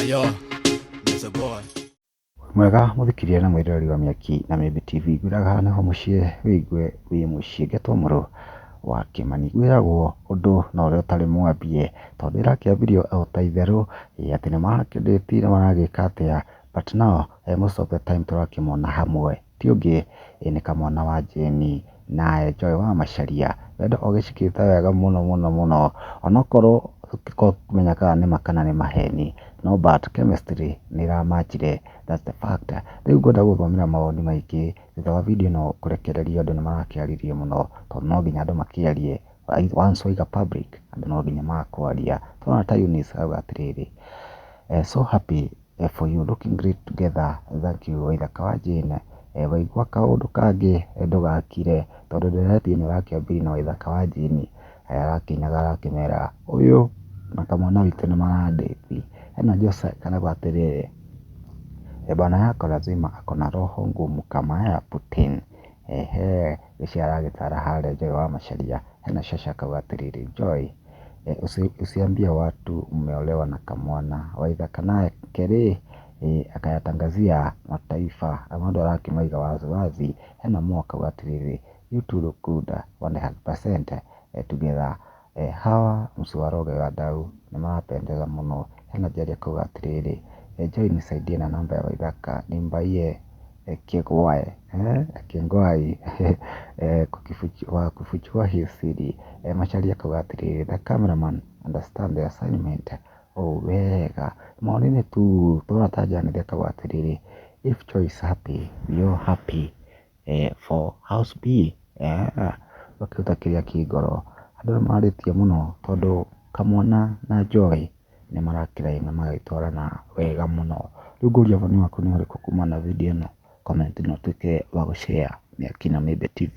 Ayo, Mr. Boy. mwega mũthikĩria na mwĩroreri wa mĩaki na mĩmbi tv ngwĩraga haha nĩho mũciĩ wĩigue wĩ mũciĩ ngetwo mũrũ wa kĩmani gwĩragwo ũndũ na ũrĩa ũtarĩ mwambie tondũ ĩrakĩambirio o ta itherũ ĩ atĩ nĩmakĩndĩti na maragĩka atĩa but now eh, most of the time tũrakĩmona hamwe ti ũngĩ ĩ nĩ kamwana wa Jane na Joy wa Macharia. Wendo ũgĩcikĩte wega mũno mũno mũno, onokorwo tũtikoragwo tũkĩmenya kana nĩ ma kana nĩ maheni, no but chemistry nĩ ĩra match -ire that's the fact. Rĩu ngwenda gũgũthomera mawoni maingĩ, thutha wa video ĩno kũrekererio andũ nĩ marakĩarĩrĩria mũno, tondũ no nginya andũ makĩarie, once waiga public andũ no nginya magakwaria. Nĩ wona ta Eunice arauga atĩrĩrĩ, so happy. for you looking great together thank you waithaka wa Jane waigua kaũndũ kangĩ ndũgakire tondũ ndeereti ĩno ya Kĩambĩri na waithaka wa Jane arakĩinaga arakĩmera ũyũ na kamwana witũ nĩ marandĩti ena Jose karauga atĩrĩrĩ, bwana yako lazima ako na roho ngumu kama ya Putin Eehee! Rĩciria aragĩtaara harĩa Joy wa Macharia, hena Shasha akauga atĩrĩrĩ, Joy, usiambie watu umeolewa na kamwana, waidha kanake rĩ, akayatangazia mataifa, mũndũ arakĩmaiga wazi wazi, hena Mo akauga atĩrĩrĩ, you two look good 100% together. Hawa mũciĩ wa Rũgĩ wa Ndaũ nĩ marapendeza mũno. Hena Njeri akauga atĩrĩrĩ, Njoi nisaidie na namba ya Waithaka nimbaie kĩgwae, kĩngwai, kufichua hi siri. Macharia akauga atĩrĩrĩ, The camera man understand the assignment ũũ wega. Maoni-inĩ tu tũrona ta Janeth akauga atĩrĩrĩ, If Joy is happy, we all happy. for house bill ũgakĩruta kĩrĩa kĩ ngoro. Andũ aya marĩtie mũno tondũ kamwana na njohi nĩ marakĩrĩa na magagĩtwarana wega mũno. Rĩu ngũria woni waku nĩ ũrĩkũ kumana na video ĩno? Comment na ũtuĩke wa gũ share na Akina Mibe TV.